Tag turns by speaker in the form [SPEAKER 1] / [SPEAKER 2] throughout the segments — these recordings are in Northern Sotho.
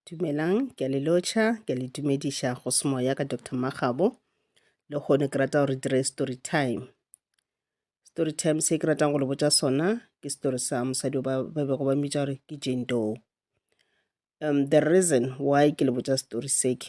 [SPEAKER 1] Dumelang, ke a le lotšha, ke a le dumediša go semoya ka Dr. Magabo. Le gone ke rata gore dire story time. Story time se ke ratang go le botša sona ke story sa mosadi ba ba bego ba mmitša gore ke Jane Doe. Um, the reason why ke le botša story se ke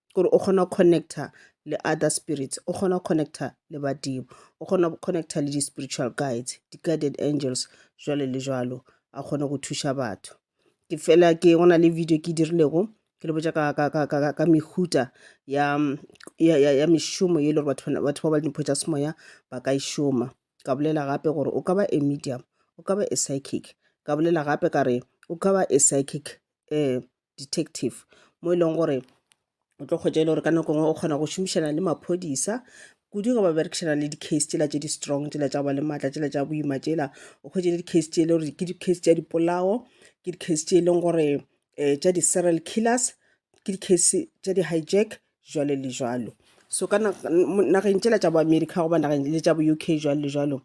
[SPEAKER 1] gore o kgona go connecta le other spirits o kgona go connecta le badimo o kgona go connecta le di-spiritual guides di-guided angels jwale le jwalo a kgone go thuša batho ke fela ke go na le video ke dirilego ke le botša ka, ka, ka, ka, ka, ka mehuta ya, ya, ya, ya mešomo ye e le gore batho bana- batho ba ba le dimpho tša semoya ba ka e šoma ka bolela gape gore o ka ba a medium o ka ba a psychic ka bolela gape ka re o ka ba a psychic um detective mo e leng gore o tlo kgwetša e le gore ka nako ngwe o kgona go šomišana le maphodisa kudu ge ba berekišana le di-case tsela tše di strong tsela tša go ba le maatla tsela tša boima tsela o kgwetše le di-case tše e le gore ke di-case tša dipolao ke di-case tše e leng gore um tša di-serial killers ke di-case tša di-hijack jwalo le jwalo so ka nageng tšela tša bo america goba nageng le tša bo uk jwalo le jwalo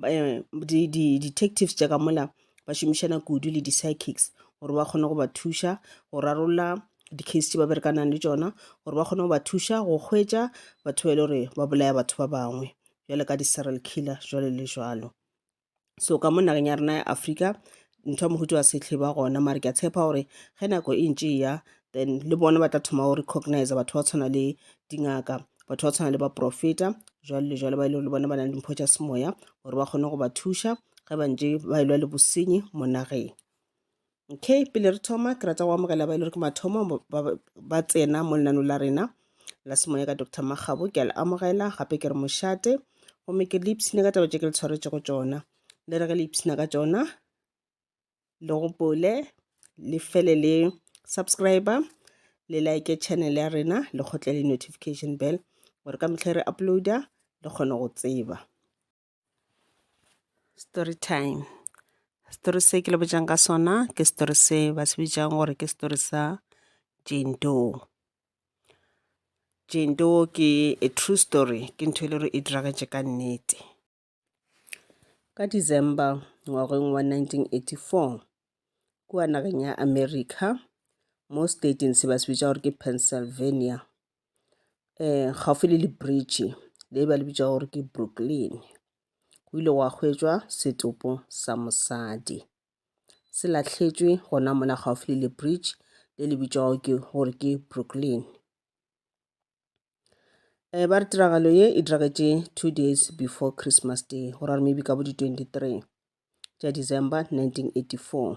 [SPEAKER 1] um di-detectives tša ka mola ba šomišana kudu le di-psychics gore ba kgone go ba thuša go rarolla di-case tše ba berekanang le tšona gore ba kgone go ba thuša go hwetša batho ba e le gore ba bolaya batho ba bangwe jwale ka di-serial killer jwalo le jwalo so ka mo nageng ya rena ya africa ntho ya mohutu wa setlhe ba gona mare ke a tshepa gore ge nako e ntše ya then le bona ba tla thoma go recognize batho ba tshwana le dingaka batho ba tshwana le baprofeta jwale le jwale ba e le gore bona ba nang le mpho tša semoya gore ba kgone go ba thuša ge ba ntše ba elwa le bosenyi mo nageng okay pele re thoma ke rata go amogela ba e le gore ke mathomo ba tsena mo lenano la rena la semoya ka dr magabo ke a le amogela gape ke re mošate gomme ke le ipshina ka taba tse ke le tshwaretse go tsona le re ge le ipshina ka tsona le gopole le fele le subscriber le like channel ya rena le kgotle le notification bell gore ka metlha re uploada le kgone go tseba Story time. Story se ke le botšang ka sona ke story se ba se bitšang gore ke story sa Jane Doe. Jane Doe ke a true story ke ntho e le gore e diragetše ka nnete. Ka December ngwageng wa 1984 kua nageng ya America mo stateng se ba se bitša gore ke Pennsylvania um gaufi le le bridge le ba le bitša gore ke Brooklyn. Go ile gwa hwetšwa setopo sa mosadi se lahletšwe gona mona gaufi le le bridge le le bitšwago ke gore ke Brooklyn. Um ba re tiragalo ye e diragetše two days before Christmas day go ra gore maybe ka bo di twenty-three. tša December 1984.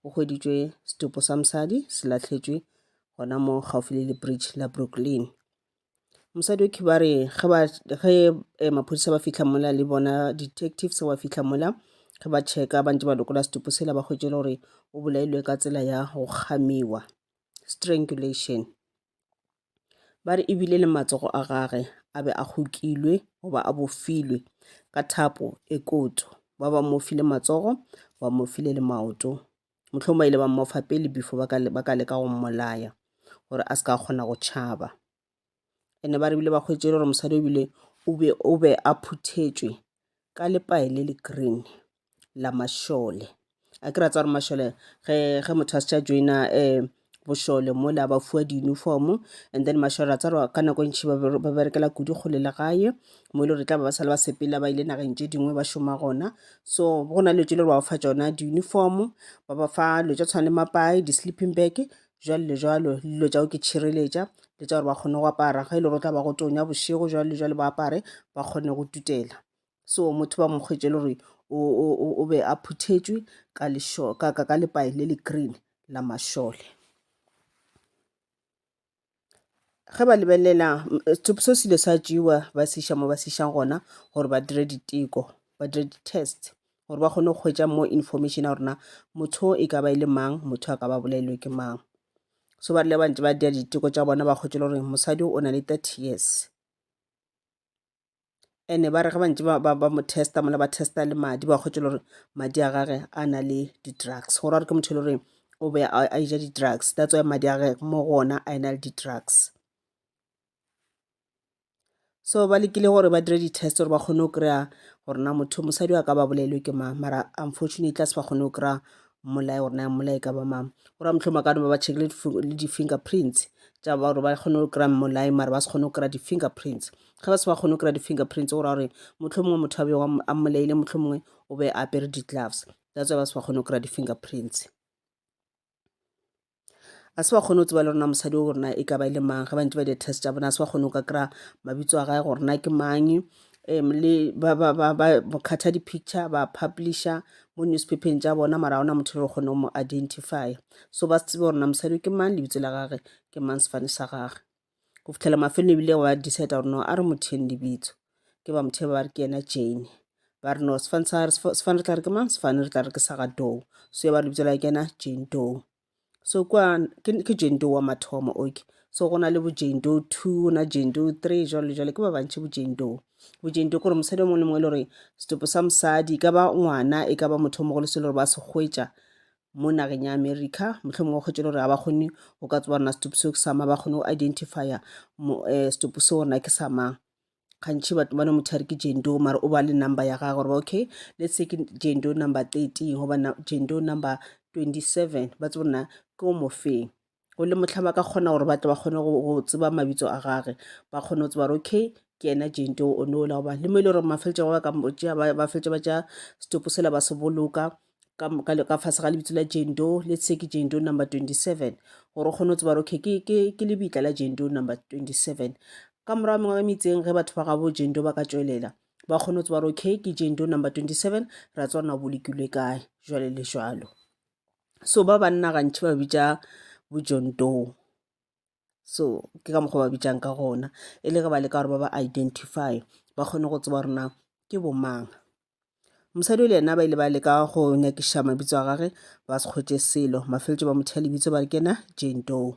[SPEAKER 1] O hweditšwe setopo sa mosadi se lahletšwe gona mo gaufi le lebridge la Brooklyn. Mosadi o khibare ge ba ge eh, maphodisa ba fihla mola le bona detectives ba fihla mola ge ba checka ba ntse ba lokola setopo sela ba hwetše le gore o bolailwe ka tsela ya go kgamiwa strangulation Ba re e bile le matsogo a gage a be a kgokilwe goba a bofilwe ka thapo e kotso. Ba ba mo file matsogo, ba mo file le maoto. Mohlomong ba ile ba mmofa pele before ba ka le- ba ka leka go mmolaya gore a se ka kgona go tšhaba. And-e ba re bile ba hwetše e le gore mosadi o bile o be- o be a phuthetšwe ka lepae le le green. la mašole a ke ra tsa gore mašole ge ge motho a se tša joina um bošole mola ba fiwa di-uniform and then mašole ra tsa gore ka nako e ntšhi ba ba berekela kudu kgole le gae mo e le gore e tla ba ba sale ba sepela ba ile nageng tše dingwe ba šoma gona so go na le dilo tše le gore ba ba fa tšona di-uniform ba ba fa dilo tša tshwana le mapae di-sleeping bag jwalo le jwalo le dilo tša go ke tšhireletša le tša gore ba kgone go apara ge e le gore o tla ba go tonya bošego jwalo le jwalo ba apare ba kgone go tutela so motho ba mokgwetše le gore o be a phuthetšwe ka lešo ka ka ka lepae le le green la mašole ge ba lebelela so selo sa jewa ba se iša mo ba se išang gona gore ba dire diteko ba dire di-test gore ba kgone go kgwetša mo information ya gorena motho e ka ba e le mang motho a ka ba bolailwe ke mang so ba rile ba ntse ba dira diteko tša bona ba kgwetše le gore mosadi o na le thirty years ene ba re ge bantse ba, ba, ba mo testa mola ba testa le madi ba kgwetše le gore madi a gage a na le di-drugs go ra gore ke motho e le goreng o be a a ija di-drugs that's why madi a gage mo go ona a e na le di-drugs so ba lekile gore ba dire di-test gore ba kgone go kry-a gore na motho mosadi wa ka ba bolailwe ke mang mara unfortunately tla se ba kgone go kry-a mmolae gore na mmolae ka ba mang gore motlhoma ka ba ba check le difi- le di-fingerprints tša ba gore ba kgone go kry-a mmolae mara ba se kgone go kry-a di-fingerprints ge ba se ba kgone go kry-a di-fingerprints go ra gore motlho mongwe motho a be a mmolaile motlho mongwe o be a apere di-gloves that's why ba se ba kgone go kry-a di-fingerprints a se ba kgone go tseba le rona mosadi o gorena e ka ba e le mang ge ba ntse ba di-test tša bona a se ba kgone go ka kry-a mabitso a gae gorena ke mang um le ba ba ba ba khatha di-picture ba publisha mo newspapeng tša bona mara ona motho le re kgone go mo identifya so ba se tsebe gorena mosadi ke mang lebitso la gage ke mang sefane sa gage go fitlhela mafelelo ebile ba decide gore no a re motheng lebitso ke ba mothe ba re ke yena jane ba re no sefane sa re sefane re tla re ke mang sefane re tla re ke sa ga dou so ya ba lebitso la kena jane dou so kwa ke jane dou wa mathomo oke so go na le bo jane dou two go na jane dou three jalo le jalo ke ba bantšhi bo jane dou bo jane dou kore mosadi o mongwe le mongwe e le gore setopo sa mosadi e ka ba ngwana e ka ba motho o mogolo se e le gore ba se hwetša mo nageng ya america mohlomong wa kgwetšele gore ga ba kgone go ka tsebarona setopo seo ke sa mang ba kgone go identifya eh, setopo seo gona ke sa mang gantšhi batho bane motho a re ke jendo mare o ba le number ya gage gore okay let's say ke jendo number thirteen goba jendo number twenty seven ba tse borena ke o mofeng o le mohla ba ka kgona gore batle ba kgone go tseba mabitso a gage ba kgone go tseba gore okay ke ena jente o ne ola goba le mo e le gore mafeletse go ba ka motšea ba feletse ba tšea setopo sela ba se boloka ka fase ga lebitso la jendo le se ke jendo number twenty seven gore o kgone go tseba gore okay ke lebitla la jendo number twenty seven ka morago mengwe ya metseng ge batho ba gabo jendo ba ka tšwelela ba kgone go tseba gore okay ke jendo number twenty seven ra tswa na bolokilwe kae jwale le jwalo so ba banna gantši ba bitša bojontoo so ke ka mokgwa ba bitšang ka gona e le ge ba leka gore ba ba identify ba kgone go tseba rena ke bomang mosadi o le yena ba ile ba leka go nyakiša mabitso a gage ba se kgwetše selo mafeletše ba motho ya lebitso ba re kena jentoo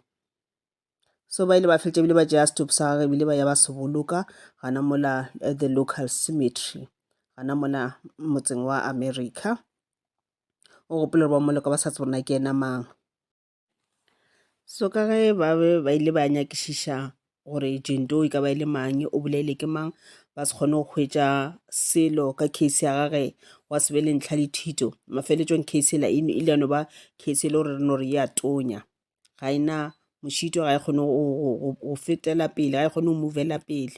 [SPEAKER 1] so ba ile ba fetša ebile ba tšea stop sa gage ebile ba ya ba se boloka gana mola at the local cemetery gana mola motseng wa america o gopola gore ba mmoleka ba sa tsebe gore na ke ena mang. So ka ge ba be ba ile ba nyakišiša gore agent e ka ba e le mang, o bolailwe ke mang, ba se kgone go hwetša selo ka case ya gage, gwa se be le ntlha le thito. Mafelelong case e la e ile ya no ba case e le gore re no re e a tonya. ga e na mošito, ga e kgone go fetela pele, ga e kgone go movela pele.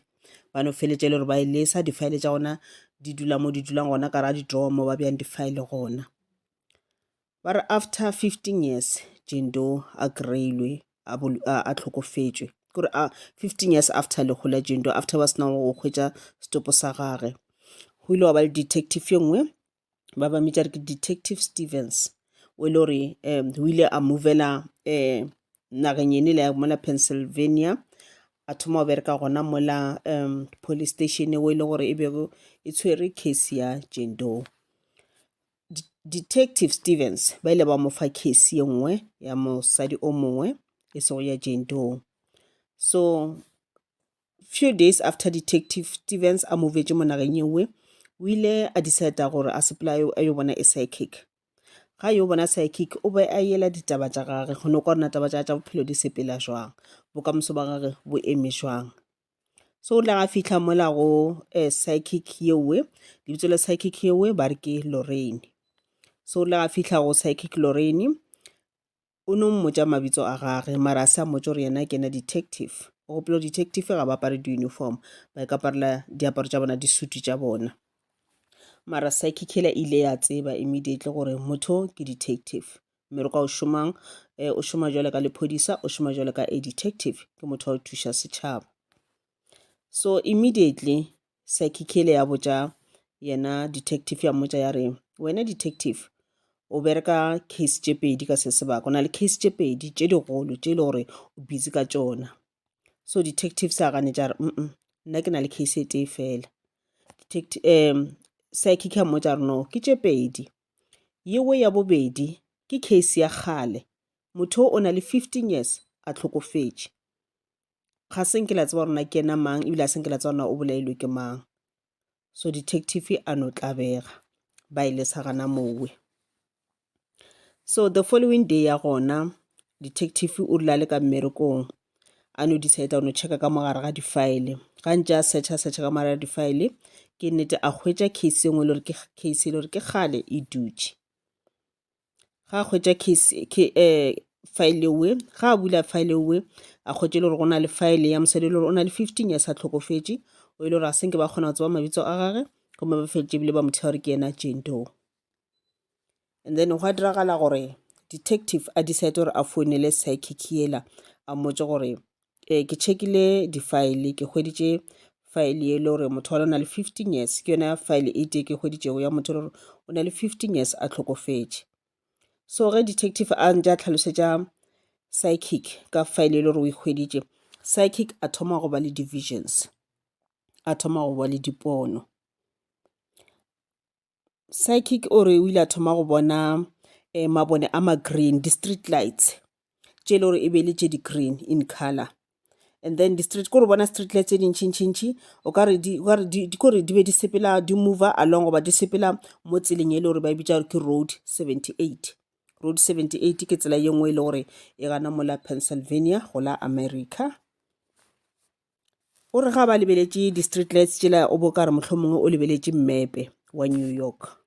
[SPEAKER 1] Ba no feleletša e le gore ba e lesa, di-file tša gona di dula mo di dulang gona ka ra di-drawer mo ba beyang di-file gona. Ba re after fifteen years, Jane-Doe a kry-ilwe a tlhokofetšwe, ke gore fifteen years after lehu la Jane-Doe, after ba sena go hwetša setopo sa gage. Go ile gwa ba le detective e nngwe ba ba mmitša re ke detective stevens o e le gore um o ile a movela um nageng ene le ya mola pennsylvania a thoma go bereka gona mola um police station o e le gore e bego e tshwere case ya jendo detective stevens ba ile ba mo fa case ye nngwe ya mosadi o mongwe e sego ya jendo so few days after detective stevens a movetše monageng yewe o ile a decide gore a sepela a yo bona e psychic ga yo bona psychic o be a yela ditaba tša gage go no kwa rena taba tša tša bophelo di sepela jwang bokamoso ba gage bo eme jwang so o tla ga fitlha mola go eh, psychic yewe lebitso la psychic yewe ba re ke lorraine so o tla ga fitlha go psychic lorraine O no mmotša mabitso a gage, mara a se a mmotša gore yena ke ena detective. O gopola gore detective ga ba apare di-uniform, ba ikaparela diaparo tša bona, disutu tša bona. Mara psyche killer e ile ya tseba immediately gore motho ke detective. Mme re kwa o šomang, eh, o šoma jwale ka lephodisa, o šoma jwale ka a detective, ke motho wa go thuša setšhaba. So immediately Sakhikele ya botša yena detective ya mmotša ya re wena detective o bereka case tše pedi ka se sebaka o na le case tše pedi tše digolo tše e le gore o busy ka tšona so detective sa gane tša re mm nna ke na le case e tee fela um psychic ya mmotša re no ke tše pedi yewe ya bobedi ke case ya kgale motho o na le fifteen years a tlhokofetše ga se nke la tseba gore na ke ena mang ebile a se nke la tseba na o bolailwe ke mang so detective a no tlabega ba e lesa gana mowe so the following day ya gona detective o rile a le ka mmerekong a no decide no checka ka mogare ga difile ga ntse a searcha searcha ka mogare ga difile ke nnete a hwetša case engwe e le gore ke case e le gore ke kgale e dutše ga a hwetša file ewe ga a bula file ewe a hwetše e le gore go na le file ya mosadi e le gore o na le fifteen years a hlokofetše o e le gore a se nke ba kgona go tseba mabitso a gage gomme ba feditše ebile ba mo thea gore ke yena jane doe and then gwa diragala gore detective a decide gore a founele psychic yela a mmotse gore eh, ke checkile di-file ke hweditše file ye le gore motho wa lona le 15 years ke yona file e tee ke hweditšego ya motho le gore o na le 15 years a tlhokofetše so ge detective a ntse a tlhalosetša psychic ka file ye le gore o ikgweditše psychic a thoma go ba le divisions a thoma go ba le dipono psychic o re o ile a thoma go bona um mabone a ma-green di-street lights tše e le gore e be le tše di-green in color and then di-street ko re bona street light tse dintšhintšhintšhi o ka re kore di be di sepela di mover along goba di sepela mo tseleng e le gore ba e bitša gore ke road 78 road 78 ke tsela ye nngwe e le gore e gana mola pennsylvania go la america O re ga ba lebeletše di-street lights tšela o bo ka re mohlomongwe o lebeletše mmepe wa new york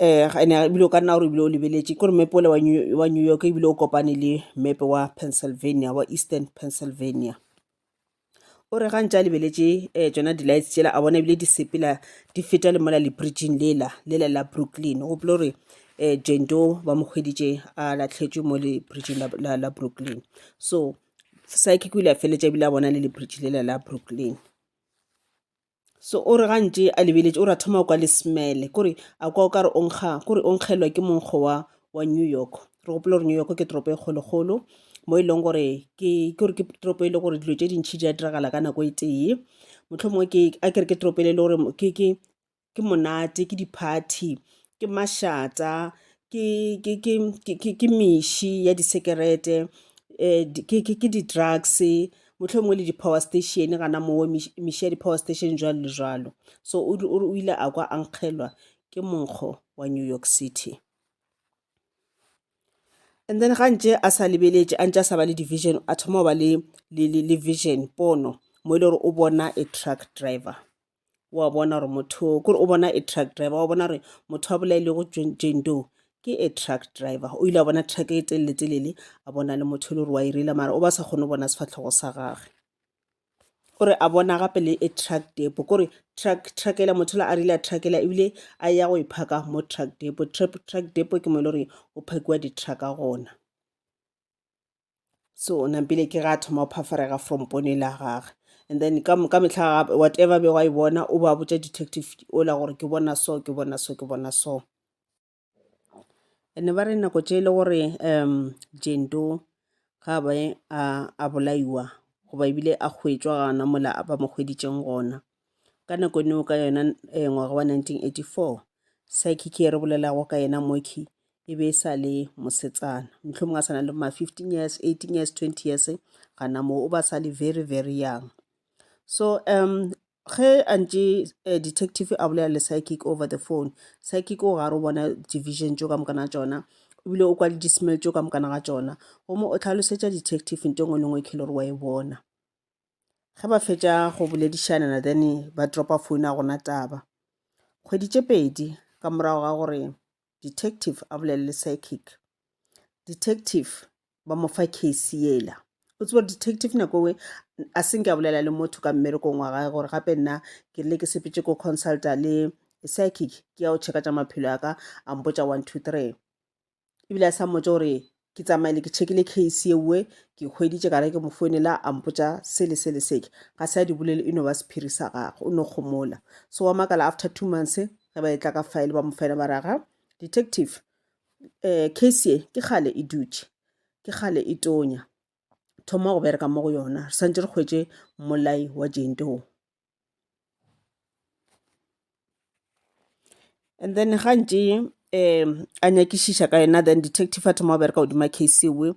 [SPEAKER 1] um ene ebile o ka nna gore ebile o lebeletše kore mmepe ole wa new york ebile o kopane le mmepe wa pennsylvania wa eastern pennsylvania o re ga ntse a lebeletše um tsona di-lights tšela a bona ebile di sepela di feta le mola le bridging lela lela la brooklyn o gopole gore eh, jane doe ba mo kgweditše a latlhetšwe mo lebridgeng la, la, la brooklyn so psychic o ile a feletša ebile a bona le lebridge lela la brooklyn so o re gantše a lebeletše o re a thoma o kwa le smele kore a kwa o ka re onkga kore o nkgelwa ke monkgo wa wa new york re gopole gore new york ke toropo e kgolokgolo mo e leng gore ke gore ke toropo e le gore dilo tse dintšhi di a diragala ka nako e tee motlho mongwe a kere ke toropo e le gore ke ke monate ke di-party ke mašata ke, ke, ke, ke, ke, ke meši ya disekerete um ke, ke, ke di-drugs motlho mongwe le di-power station gana moo meši ya di-power station jwalo le jwalo so o ile a kwa a nkgelwa ke monkgo wa new york city and then ga ntše a sa lebeletše a ntše a sa ba le division a thoma go ba le, le, le, le vision pono mo e le gore o bona a truck driver wa bona gore motho kore o bona a truck driver wa bona gore motho a bolailego jane doe ke a truck driver o ile a bona truck e telele telele a bona le motho e le gore wa e reila mara o ba sa kgone go bona sefatlhogo sa gagwe gore a bona gape le a truck depo kore truck truckela motho la a rile a truckela ebile a ya go e phaka mo truck depo truck depo ke mo e le gore o phakiwa di-trucka gona so nampile ke ga thoma o phafarega from pone la gage and then ka ka mehla gape whatever be wa e bona o ba botša detective o la gore ke bona so ke bona so ke bona so ene ba re nako tše e le gore um jento ga ba a bolaiwa goba ebile a hwetšwa gana mola ba mo hweditšeng gona Ka nako neo ka yona eh, ngwaga wa 1984, saekiki e re bolelago ka yena Moki e be e sa le mosetsana. Mohlomong a sa na le ma 15 years, 18 years, 20 years, gana moo o ba sa le very, very young. So um ge a ntše eh, detective a bolela le psychic over the phone psychic o gare o bona division tšo ka mokana tšona ebile o kwa le dismell tšo ka mokana ga tšona gomme o tlhalosetša detective nto ngwe le ngwe e khele gore wa e bona ge ba fetša go boledišana na then ba dropa phone a gona taba kgwedi tše pedi ka morago ga gore detective a bolelele psychic detective ba mo fa case yela o tsebo detective nako nngwe a senke a bolela le motho ka mmerekong wa gae gore gape nna ke rile ke sepetse ko consulta le psychic ke ya go checka tša maphelo a ka a mpotša one two three ebile a sa mmotse gore ke tsamaile ke tšhekile case yewe ke hweditše ka re ke mo founela a mpotsa sele sele seke ga se a di bolele e no ba sephiri sa gagwe o no kgomola so wa makala after two months ge ba e tla ka file ba mo fela ba raga detective um case ye ke gale e dutše ke gale e tonya thoma go bereka mo go yona re santse re kgwetse mmolai wa jentoo And then ga ntše um a nyakišiša ka yena then detective a thoma go bereka godima case ewe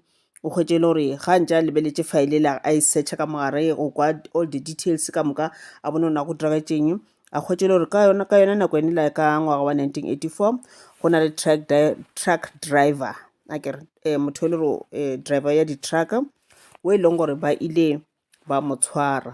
[SPEAKER 1] o hwetše e le gore ga ntše a lebeletše file ele a e searcha ka mogare go kwa all the details ka moka a bone ona go diragetšeng a hwetše e le gore ka yona ka yona nako ene la ka ngwaga wa 1984 go na le truck, di- truck driver a kere um motho e le gore um driver ya di-truck o e leng gore ba ile ba mo tshwara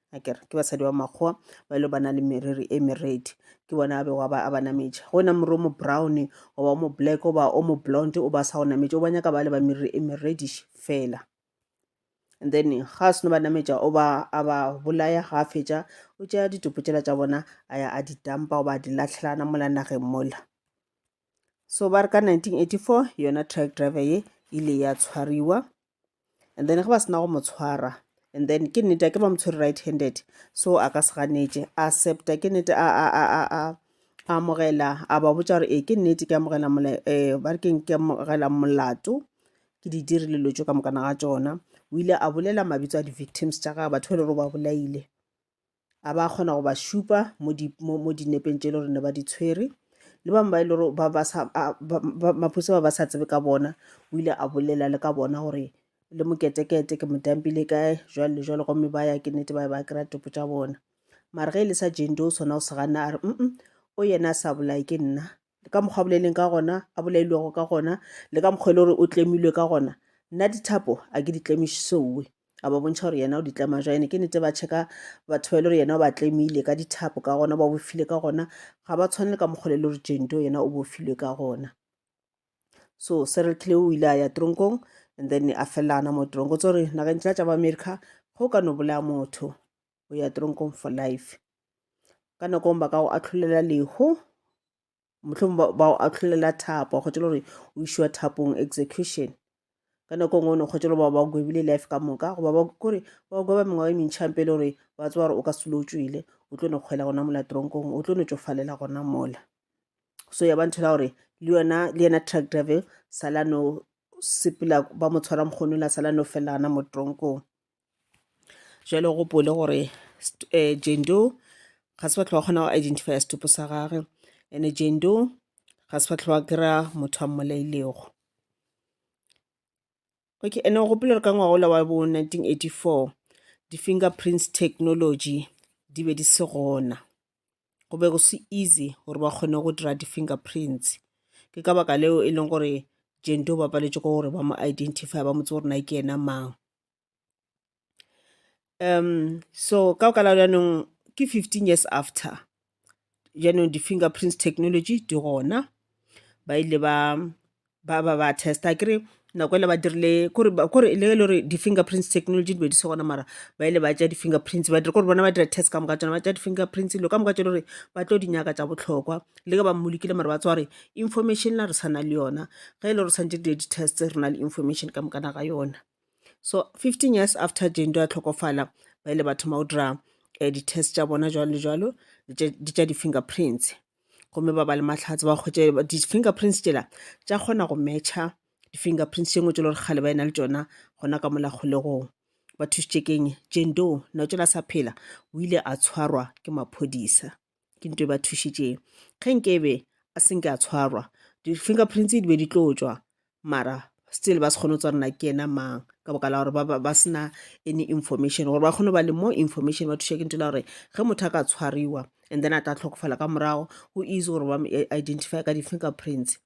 [SPEAKER 1] a ke re ke basadi ba makgowa ba ile ba na le meriri e meredi ke bona a bego a ba a ba nametše go na moriri o mo brown goba o mo black goba o mo blonde o ba sa go nametše o ba nyaka ba le ba meriri e merediše fela and then ga a seno ba nametša o ba a ba bolaya ga a fetša o tšea ditopo tšela tša bona a ya a di tampa o ba a di latlhelana mola nageng mola so ba re ka 1984 yona truck driver ye ile ya tshwariwa and then ge ba sena go mo tshwara and then ke nnete ke ba mo tshwere right handed so a ka se ganetše a septa ke nnete a a a a a amogela a ba botša gore ee ke nnete ke amogela um ba re keng ke amogela molato ke di dirile lo tso ka mokana ga tsona o ile a bolela mabitso a di-victims tša gage batho ba e le gore ba bolaile a ba kgona go ba šupa mo di mo, mo dinepeng tše e le gore ne ba di tshwere le bangwe ba e le gore ba ba sa a- ba- ba- maphodisa ba ba sa tsebe ka bona o ile a bolela le ka bona gore le moketekete ke modampile kae jwale le jwale gomme ba ya ke nnete ba ya ba kry-a topo tša bona mare ge e le sa jendo sona o se ganna a re mm o yena a sa bolaye ke nna le ka mokgwa a boleleng ka gona a bolailwego ka gona le ka mokgwa e le gore o tlemilwe ka gona nna dithapo a ke di tlemišisowe a ba bontšha gore yena o di tlema jwa ene ke nete ba checka batho ba e le gore yena o ba tlemile ka dithapo ka gona ba bofile ka gona ga ba tshwane le ka mokgwa le le gore jento yena o bofilwe ka gona so serial killer o ile a ya tronkong and then a felelana mo tronko tse gore nageng tla tša ba america go ka no bolaya motho o ya tronkong for life ka nako ba ka go atlholela leho mohlong ba go atlholela thapo wa kgotšela gore o išwa thapong execution ka nako ngwe o ne kgotšela ba ba gwebile life ka moka goba ba kore ba go gweba mengwaga e mentšhang pele gore ba tsewa gore o ka selo o tswile o tlo no kgwela gona mola tronkong o tlo no tšofalela gona mola so ya ba ntho la gore le yona le yena truck driver sala no sepela ba mo tshwara mokgono la sala no felela gana mo tronkong jalo o gopole gore um jendo ga se fatlho wa kgona go identifya setupo sa gage ene jendo ga se fatlho wa kry-a motho a mmolailego okay ene o gopole gore ka ngwaga ola wa bo 1984 di-finger prints technology di be di se gona go be go se easy gore ba kgone go dira di-finger prints ke ka baka leo e leng gore jento ba paletše ko gore ba mo identify ba motse gore na ke yena mang um so ka baka la jaanong ke fifteen years after jaanong di-finger prints technology di gona ba ile ba ba ba ba testa kere nako ele ba dirile kore ba- kore le le gore di-finger prints technology di be di se gona mara ba ile ba tša di-finger prints ba dire kore bona ba dira test ka moka tsona ba tša di-finger prints lo ka moka tšelo gore ba tlo di nyaka tša bohlokwa le ge ba mmolokile mara ba tswa gore information la re sa na le yona ge e le gore santse di di-test re na le information ka mokana ga yona So 15 years after Jendo a tlhokofala, ba ile ba thoma go dira eh, di-test tša bona jwalo le jwalo le tša- di tša di-fingerprints gomme ba ba le mahlatse ba kgwetše ba- di-fingerprints tšela tša kgona go matcha di-fingerprints tše ngwe tše le gore kgale ba ena le tšona gona ka mola kgolegong ba thušitše keng jendo na o tšela sa phela o ile a tshwarwa ke maphodisa ke nto e ba thušitšeng ge nke be a senke a tshwarwa di-fingerprints di be di tlo tšwa mara still ba se kgone go tswa rena ke ena mang ka boka la gore ba sena any information gore ba kgone go ba le more information ba thuša ke nto la gore ge motho a ka tshwariwa and then a tla tlhokofala ka morago go easy gore ba identify ka di-fingerprints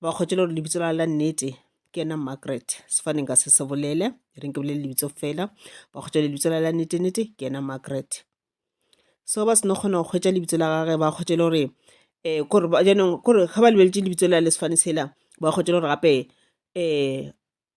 [SPEAKER 1] ba kgwetšwele gore lebitso la la nnete ke ena Margaret sefane nka se se bolele e reng ke bolele lebitso fela ba kgwetša lebitso la la nnete nnete ke ena Margaret so ba seno kgona go kgwetša lebitso la gage ba kgwetšele gore um kore jaanong kore ga ba lebeletse lebitso la le sefane sela ba kgwetšele gore gape um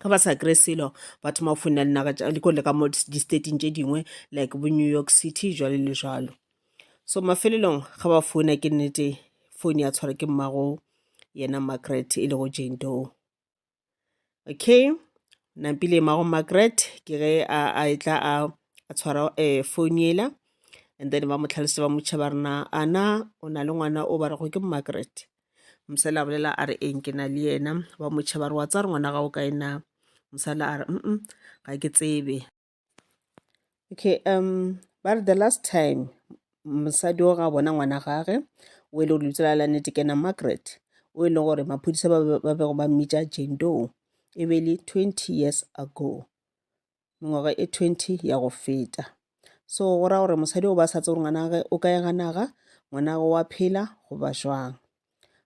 [SPEAKER 1] ge ba sa kry selo ba thoma go founela dinaga tša dikole ka mo di-stating tše dingwe like bo new york city jwale le jalo so mafelelong ga ba founa ke nnete phone ya tshwara ke mmago yena margaret e lego jane doe okay nampile mmago margaret ke ge a e tla a tshwara um eh, phone yela and then ba mo tlhalosetsa ba motšha ba rena ana o na le ngwana o ba rego ke margaret mosela a bolela a re eng ke na le yena ba motšhe ba re wa tsa re ngwana gago kae na mosela a re mm ga ke tsebe okay um ba re the last time mosadi o ga bona ngwana gage o e le gore lebitsela la nete kena margaret o e le gore maphodisa ba bego ba mmitša jendong e be le twenty years ago mengwaga e 20 ya go feta so go ra gore mosadi o ba sa tsebe gore ngwanage o ka ega naga ngwanage wa phela go ba jwang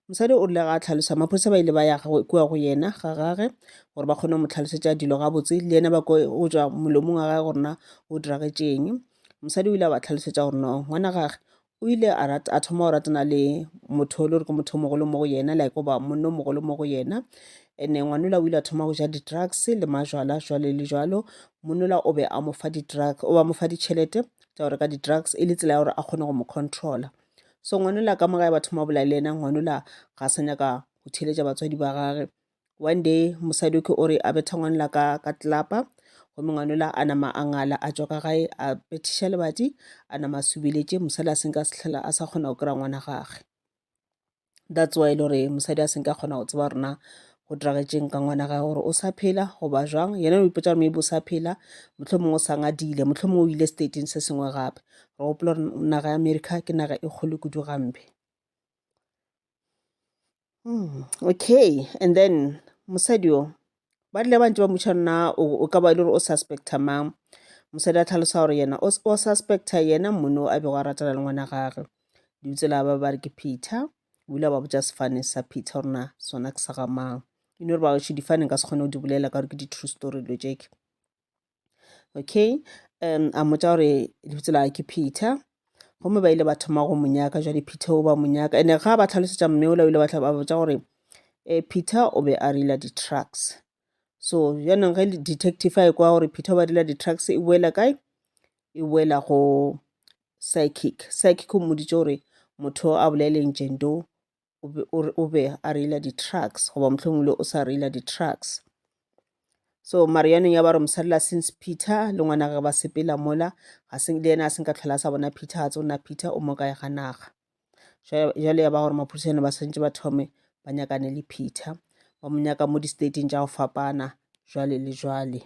[SPEAKER 1] mosadi o rile ga a tlhalosa maphodisa ba ile ba ya kua go yena ga gage gore ba kgone go mo tlhalosetša dilo gabotse le yena ba ko o tswa molomong wa gage gorena o diragetšeng mosadi o ile a ba tlhalosetša gore no ngwana gage o ile a, rat, a thoma go ratana le motho o le gore ke motho o mogolo mo go yena like goba monna o mogolo mo go yena ene ngwanola o ile a thoma go ja di-drugs le majwala jwale le jwalo monola o be a mo fa di-drug o ba mo fa ditšhelete tsa go reka di-drugs e le tsela ya gore a kgone go mo controla so ngwanola ka morae ba thoma go bolela le yena ngwanola ga a sa nyaka go theeletša batswadi ba gage One day mosadi ke o re a betha ngwanela ka ka tlelapa gomme ngwanela a nama a ngala a tšwa ka gae a bethiša lebati a nama a subeletše mosadi a senka sehlela a sa kgona go kry-a ngwana gage that's why e le gore mosadi a senka kgona go tseba rona go diragetseng ka ngwana gage gore o sa phela goba jwang yena o ipotsa gore maybe o sa phela motlho mongwe o sa ngadile motlho mongwe o ile stateng se sengwe gape re gopola gore naga ya america ke naga e kgolo kudu gampe Mm, okay and then mosadi o ba rile ba ntse ba mmuša nna o o ka ba e le gore o suspecta mang mosadi a tlhalosa gore yena o s- o suspecta yena mmone o a bego a ratana le ngwana gagwe dutse la ba ba re ke peter o ile a ba botsa sefane sa peter gore na sona ke sa ga mang e no re baoši difane nka se kgone go di bolela ka gore ke di-true story dilo tšeke okay um a mmotsa gore lebitso la ke peter gomme ba ile ba thoma go monyaka jwa diphethe o ba monyaka ene ga ba tlhalosetsa mme ola o ile ba botsa gore um eh, peter o be a rela di-trucks so jaanong ge detective a e kwa gore peter o ba rela di-trucks e boela kae e boela go psychic psychic o mmoditse gore motho a boleleng jendo o be, o, re- o be a reila di-trucks goba mohlomongwe le o sa reila di-trucks so mare yanong ya ba re mosadi la since peter le ngwana gage ba sepela mola ga se le yena a senka tlhola a sa bona peter ga tse o nna peter o mo kae ga naga Jwa- jwale ya ba gore maphodisane ba swantse ba thome ba nyakane le peter ba mo nyaka mo di-stateng tša go fapana jwale le jwale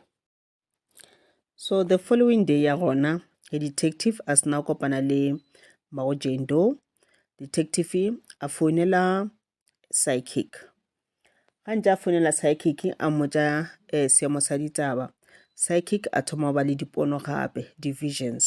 [SPEAKER 1] So the following day ya gona, a detective a sena kopana le mmago Jane Doe, detective a founela psychic. Ga ntse a founela psychic a mmotsa eh, seemo sa ditaba. Psychic a thoma go ba le dipono gape, divisions.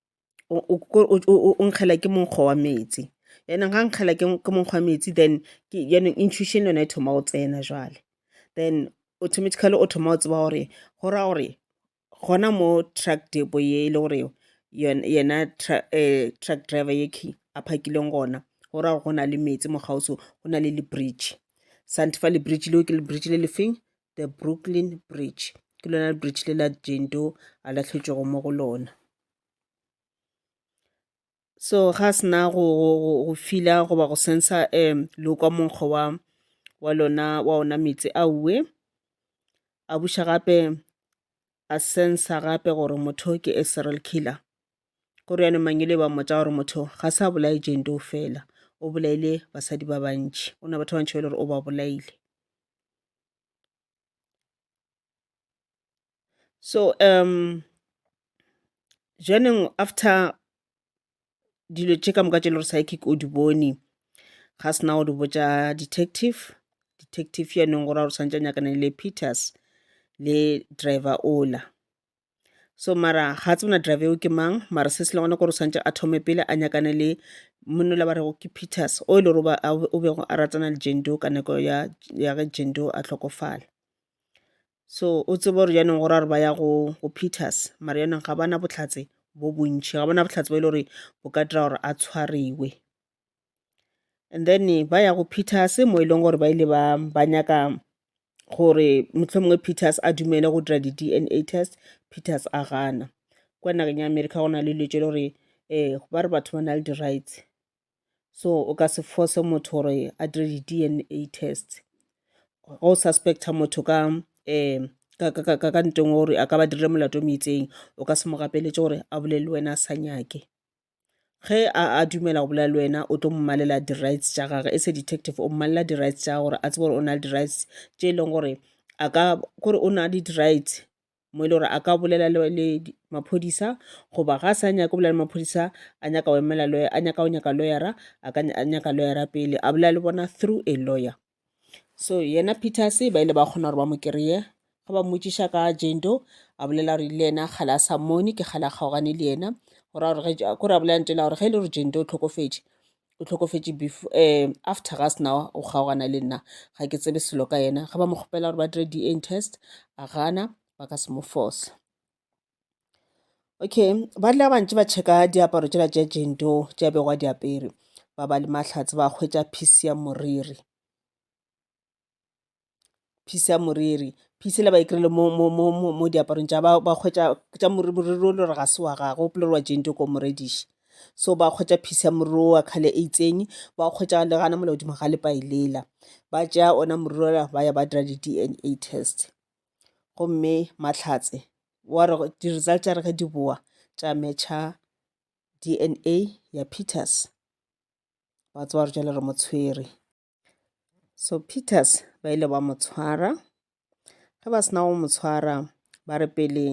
[SPEAKER 1] o o- o- o- o- o nkgela ke monkgo wa metsi yaanong ga nkgela ke ke monkgo wa metsi then ke yaanong intuition yone e thoma go tsena jwale then automatically o thoma go tseba gore go ra gore gona mo truck depo ye e le gore yon- yena tra- eh, truck driver ye key a phakileng gona go ra gore go na le metsi mo gauso go na le le bridge sante fa le bridge leo ke le bridge le lefeng the brooklyn bridge ke lona bridge le la jane doe a latlhetšwego mo go lona so ga sena go fila goba go sensa um lokwa monkgo wa wa lona wa ona meetse a uwe a buša gape a sensa gape gore motho ke a serial killer go riane mangele ba mmotsa gore motho ga sa bolaye jane doe fela o bolaile basadi ba bantši o na batho ba bantši ba e le gore o ba bolaile so um joaneng after dilo tše ka moka tše le gore psychic o di bone ga sena o di botša detective detective yanong go ra gore santse a nyakane le peters le driver ola so mara ga tsebe na driver eo ke mang mara se se le gona kore o tshwanetse a thome pele a nyakane le monna la ba rego ke peters o e le gore o bego a ratana le jendo ka nako ya ya ge jendo a tlhokofala so o tsebe gore jaanong go ra gore ba ya go go peters mara jaanong ga bana botlhatse bo bontšhi ga bona botlhatse bo e le gore bo ka dira gore a tshwariwe and then ba ya go peters mo e leng gore ba ile ba ba nyaka gore mohlomongwe peters a dumele go dira di-dna test peters a gana kwa nageng ya america go na le letse le gore um ba re batho ba na le di-rights so o ka se force motho gore a dire di-dna test go o suspecta motho ka um ka ntong gore a ka ba dirile molato o meitseng o ka se mo gapeletše gore a bolele wena a sa nyake ge a a dumela go bolela le wena o tlo mmalela di-rights tša gage e se detective o mmalela di-rights tša gore a tsebe gore o na le di-rights tše e leng gore a ka kore o na le di-rights mo e le gore a ka bolela le maphodisa goba ga a sa nyaka go bolela le maphodisa a nyaka go emela a nyaka go nyaka lawyera a ka nyaka lawyera pele a bolela le bona through a lawyer. so yena peters ba ile ba kgona gore ba mo kry-e ge ba mmotšiša ka jane doe a bolela gore le yena kgale a sa mmone ke kgale a kgaogane le yena gore a gore ge- kore a bolela ntela gore ge e le gore jane doe o tlhokofetše o tlhokofetše before um after ga sena o kgaogana le nna ga ke tsebe selo ka yena ge ba mo kgopela gore ba dire dna test a gana ba ka se mo force Okay ba rile ba bantši ba tšheka diaparo tšela tša Jane Doe tše a bego a di apere ba ba le mahlatse ba hwetša phisi ya moriri phisi ya moriri phisi le ba e kry-ile mo, mo, mo, mo, mo diaparong tša ba ba hwetša tša moriri moriri o le gore ga se wa gagwe o pele gore wa Jane Doe ko morediši so ba hwetša phisi ya moriri o wa kgale e itseng ba hwetša le gana mola godimo ga lepa e lela ba tšea ona moriri ola ba ya ba dira di-D_N_A test. gomme Mahlatse wa re di-result tša re ge di boa tša match-a D_N_A ya Peters ba tseba gore jwale re mo tshwere so Peters ba ile ba mo tshwara ge ba sena go mo tshwara ba re pele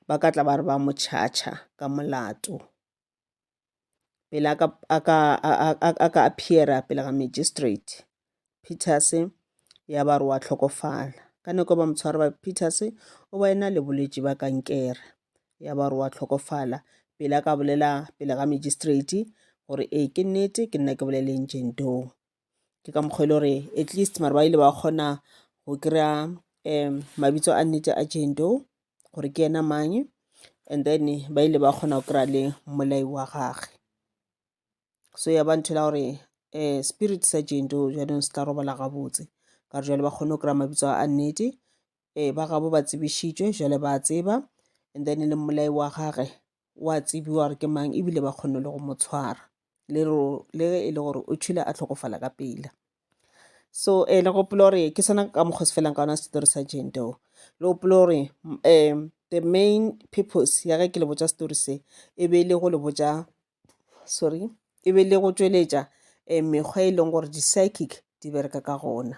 [SPEAKER 1] ba ka tla ba re ba mo charger ka molato pele a ka, a ka, a ka appear-a pele ga magistrate. Peters ya ba re wa hlokofala. Ka nako ba mo tshwara ba Peters o ba ena le bolwetši ba kankere. Ya ba re wa hlokofala pele a ka bolela pele ga magistrate gore ee ke nnete ke nna ke boleleng Jane Doe. ke ka mokgwa e le gore at least mare ba ile ba kgona go kry-a um mabitso a nnete a jento gore ke ena mang and then ba ile ba kgona go kry-a le mmolai wa gage so ya ba ntho la gore um spirit sa jento jaanong se tla robala gabotse ka re jale ba kgone go kry-a mabitso a nnete um ba gabo ba tsebišitšwe jale ba tseba and then le mmolai wa gage wa tsebiwa gore ke mang ebile ba kgonne le go mo tshwara le le ge e le gore o tšhile a tlhokofala ka pela so um eh, le gopola gore ke sena ka mokgwa se felang ka ona setori sa jento le gopola gore um the main purpose ya ge ke le botša setori se e be e le go le botša sorry e be e le go tšweletša um mekgwa e leng gore di-psychic di bereka ka gona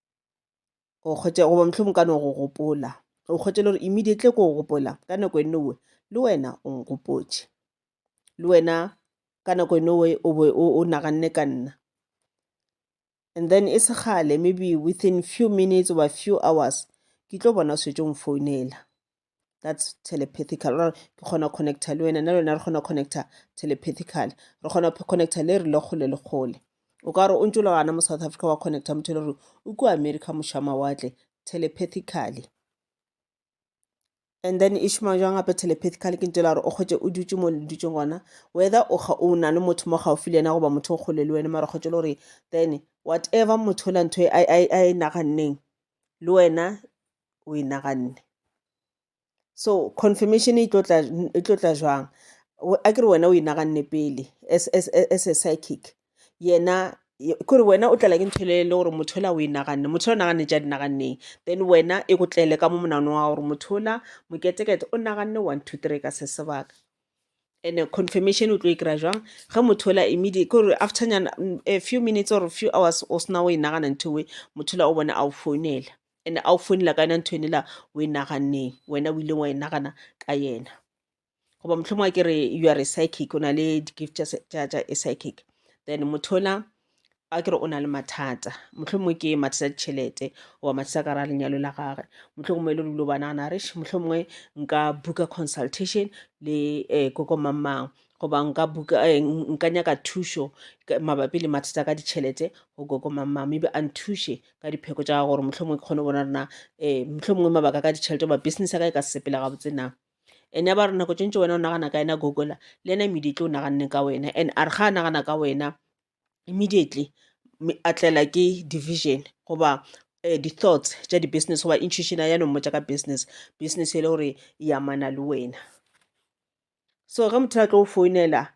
[SPEAKER 1] o kgwetše goba mohlomong ka no go gopola o kgwetše le gore immediately ko go gopola ka nako e nowe le wena o nkgopotše le wena ka nako e nowe o be o naganne ka nna and then e se kgale maybe within few minutes oba few hours ke tlo bona o setse o mfounela that's telepathical or ke kgona go connecta le wena nna le wena re kgona go connecta telepathical re kgona go connecta le re le kgole le kgole o ka re o ntse le gana mo south africa wa connecta motho le gore o kua america moša mawatle telepathically and then e šoma jwang gape telepathical ke ntse la gore o kgotse o dutse mo le dutse gona whether o na le motho mo gaufi le yena goba motho o kgole le wena mara kgotse le gore then whatever motho la ntho a e naganneng le wena o e naganne so confirmation e tlo tla e tlo tla jwang a ke re wena o e naganne pele as as as a psychic yena kore wena o tlala ke ntho le le gore motho la o e naganne motho la o naganne tša di naganneng then wena e go tlele ka mo monano wa gore motho la moketekete o naganne one two three ka se sebaka and confirmation o tlo e kry-a jwang ge motho la immediate kore after nyana a few minutes or few hours o sena o e nagana ntho e motho la o bona a o founela Ene a o founela ka yona ntho ene la o e naganneng wena o ileng wa e nagana ka yena goba mohlomong a ke re you are a psychic o na le di-gift tša a psychic then motho ona a ke re o na le mathata mohlomongwe ke mathata a ditšhelete goba mathata ka ra lenyalo la gage mohlomongwe e le dilo ba nagana re mohlomongwe nka buka consultation le um eh, koko mamang goba nka buka eh, nka nyaka thušo mabapi le mathata ka ditšhelete go koko mamang maybe a nthuše ka dipheko tša gore mohlomongwe ke kgone go bona rena um mohlomongwe mabaka ka ditšhelete goba business ya ka e ka se sepela gabotse na and ya ba re nako tše ntši wena o nagana ka yena gogola le yena immediately o naganne ka wena and a re ga a nagana ka wena immediately a tlela ke division goba um di-thoughts tša di-business goba intuition ya no mmotša ka business business e le gore e amana le wena so ge motho a tlo go founela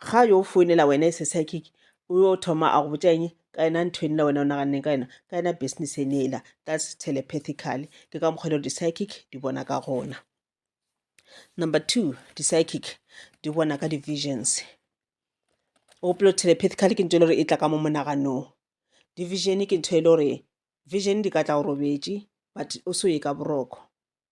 [SPEAKER 1] ga yo founela wena e se psychic o yo thoma a go botša eng ka yena ntho ene la wena o naganneng ka yena ka yena business ene ela that's telepathically ke ka mokgwa e le gore di-psychic di bona ka gona number two di-psychic di bona ka di-visions o gopolo telepathically ke ntho e le gore e tla ka mo monaganong division ke ntho e le gore vision di ka tla o robetše but o se o ye ka boroko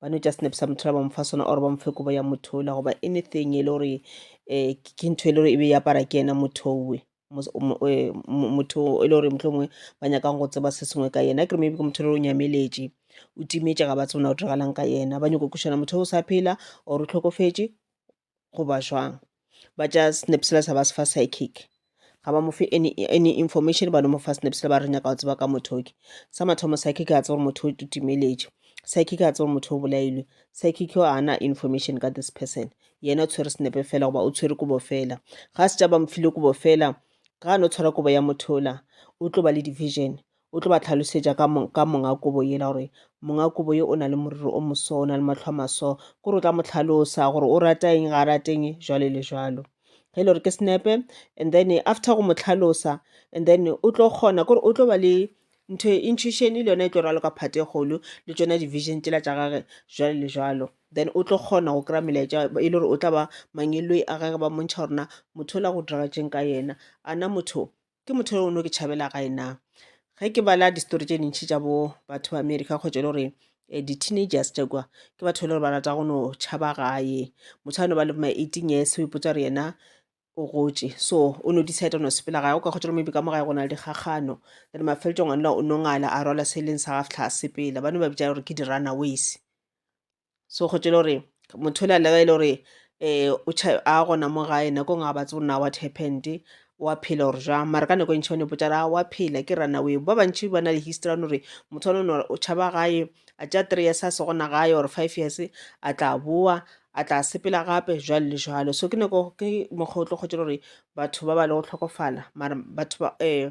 [SPEAKER 1] ba no just nepisa motho la ba mofa sona or ba mofe kobo ya motho ola goba anything e le gore um ke ntho e le gore e be e apara ke yena motho owe e, motho e le gore motlho mongwe ba nyakang go tseba se sengwe ka yena kere maybe ke motho e le gore o nyameletše o timetše ga ba tsebona o diragalang ka yena ba nyako kušana motho o sa phela or o tlhokofetše goba jwang ba tša snap sela sa ba se fa psychic ga ba mo fe any any information ba no mo fa snap sela ba re nyaka go tseba ka motho o ke sa mathomo psychic a tseba gore motho o timeletše psychic a tseba motho o bolailwe psychic o ana information ka this person yena o tshwere snepe fela goba o tshwere kobo fela ga se tša ba mfile kobo fela ga a no tshwara kobo ya mothola o tlo ba le division O tlo ba hlalosetša ka, ka monga kobo yela gore monga kobo ye o na le moriri o moso, o na le matlho a maso. Ke gore o tla mo hlalosa gore o rata eng, ga a rate eng, jwale le jwalo. Ge e le gore ke senepe, and then after go mo tlhalosa, and then o tlo kgona, ke gore o tlo ba le ntho e intuition le yona e tlo raloka part e kgolo le tšona di-vision tšela tša gage jwalo le jwalo then o tlo kgona go kry-a melaetša e le gore o tla ba mangelloi a gage ba mmontšha gore na motho o la go diragatšeng ka yena a na motho ke motho yo no ke tšhabela gae na ge ke bala distory tše dintšhi tša bo batho ba america kgotsa e le gore eh, di-teenagers tša kwa ke batho e le gore ba rata go no tšhaba gae motho a no ba le ma eighteen years o ipotsa re yena o gotše so o no decide no sepela gae o ka kgotsa maybe ka mo gae go na le dikgagano then mafeletšong a nla o nongala a rwala se e leng sa gaftlha a sepela ba no ba bitša gore ke di-runaways so kgotse le gore motho o le alega e le gore um a gona mo gae nako e nngwe ga ba tsebo na what happened wa phela or jwang mara ka nako e ntšhi ba no ipotsa ra wa phela ke runaway ba bantšhi ba na le history ya no re motho wa no o tšhaba gae a tša three years a se gona gae or five years a tla boa a tla sepela gape jwalo le jwalo so ke nako ke mokgwa o tlo kgotse gore batho ba ba le go tlhokofala mara batho ba um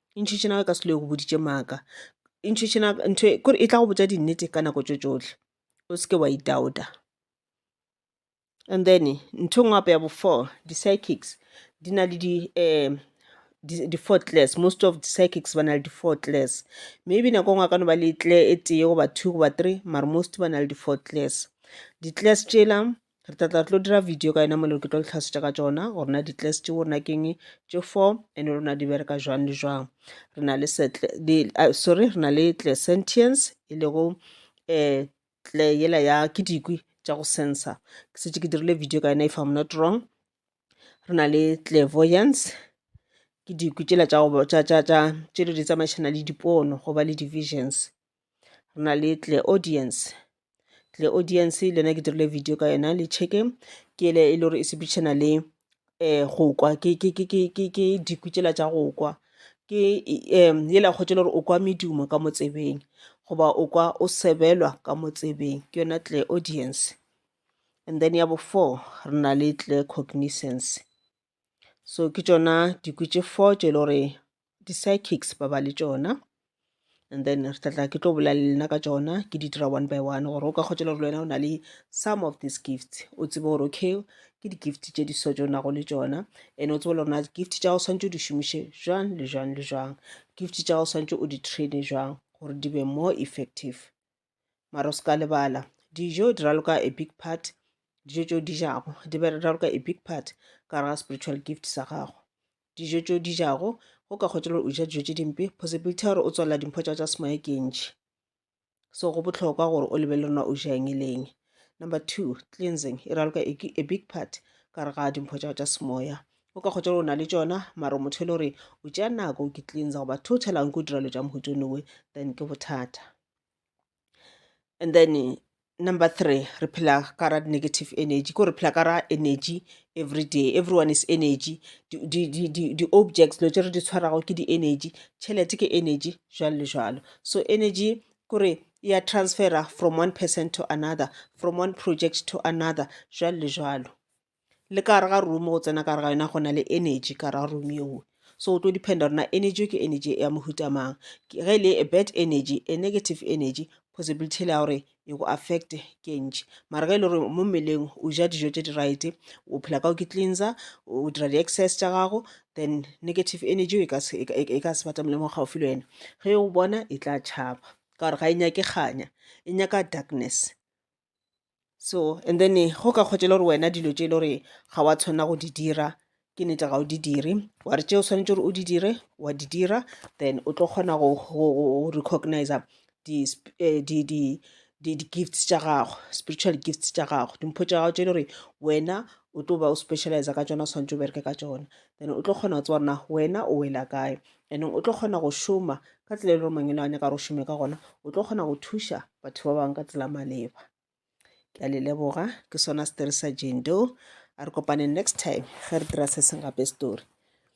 [SPEAKER 1] E ntšhitše na ka se lo e go boditše maaka? E ntšhitše na ntho e kore e tla go botša dinnete ka nako tso tsohle o seke wa itauta. And then ntho e nngwe gape ya bo four di-psychics di na le di um di-four class most of di-psychics ba na le di-four class maybe nako e nngwe a ka no ba le tle e tee goba two goba three mare most ba na le di-four class di-class tšela um re tla tla tlo dira video ka yena mo lero ke tlo le tlhalosetša ka tšona gore na di-class tšeo rena keng tše four and rona di bereka jwang le jwang re na le uh, sorry re na le tle sentience e lego um tle yela ya ke dikwi tša go sensa ke setse ke dirile video ka yena if i'm not wrong re na le clairvoyance ke dikwi tšela tša tše di tsamaišana le dipono go ba le divisions re na le tle audience tle audience le yona ke dirile video ka yona le checke ke ele e le gore e sepedišana le um go kwa ke diku tšela tša go kwa ke um yela kgotša e le gore o kwa medumo ka mo tsebeng goba o kwa o sebelwa ka mo tsebeng ke yona tle audience and then ya bo four re na le tle cognizance. So ke tšona dikwi tše four tše e le gore di-psychics ba ba le tšona and then re tlatla ke tlo bolela le lena ka tšona ke di dira one by one gore o ka kgotsa le gore le wena o na le some of these gifts o tsebe gore okay ke di-gift tše di so tše o nago le tšona and o tsebe le gore na gift tša go swantse o di šomiše jwang le jwang le jwang gift tša go swantse o di traine jwang gore di be more effective mara o se ka lebala dijo di raloka a big part dijo tšeo di jago di raloka a big part ka gare ga spiritual gift sa gago dijo tšeo di jago go ka kgotsa gore o ja dijo tše dimpe possibility ya gore o tswalela dimpho tša tša semoya ke ntši so go bohlokwa gore o lebelele rona o ja eng e leng number two cleansing e raloka a big part ka gare ga dimpho tša tša semoya o ka kgotsa gore o na le tšona mara motho e le gore o tšea nako o ke cleansa goba totalang ke o dira lo tša mohuto nowe then ke bothata and then eh, number three re phela ka ra negative energy ko re phela ka ra energy every day everyone is energy di-objects dilo tse re di tshwarago ke di-energy tšhelete ke energy jalo le jalo so energy kore e ya transfera from one person to another from one project to another jalo le jalo le ka gare ga room go tsena ka gare ga yona go na le energy ka gare ga room yeo so o tlo dependa gore na energy ke energy ya mohuta mang ge e le a bad energy a negative energy possibility ya gore e go affect ke ntši mara ge e le gore mo mmeleng o ja dijo tse di right o phela ka o ke cleanser o dira di-exercise tša gago then negative energy e ka se e e ka se batamele mo gaufi le wena ge o bona e tla tšhaba ka gore ga e nyake kganya e nyaka darkness so and then eh, go ka kgotšela gore wena dilo tše e le gore ga wa tshwanela go di dira ke nete ga o di dire wa re tše o swanetse gore o di dire wa di dira then o tlo kgona go recognize eh, di-gifts tša gago spiritual gifts tša gago dimpho tša gago tše e le gore wena o tlo ba o specialize ka tsona o swanetse o bereke ka tsona then o tlo kgona go tseba rena wena o wela kae and o tlo kgona go šoma ka tsela e le gore mangwele a nyaka gore o šome ka gona o tlo kgona go thuša batho ba bangwe ka tsela maleba ke a le leboga ke sona setori sa jane doe a re kopaneng next time ge re dira se seng gape story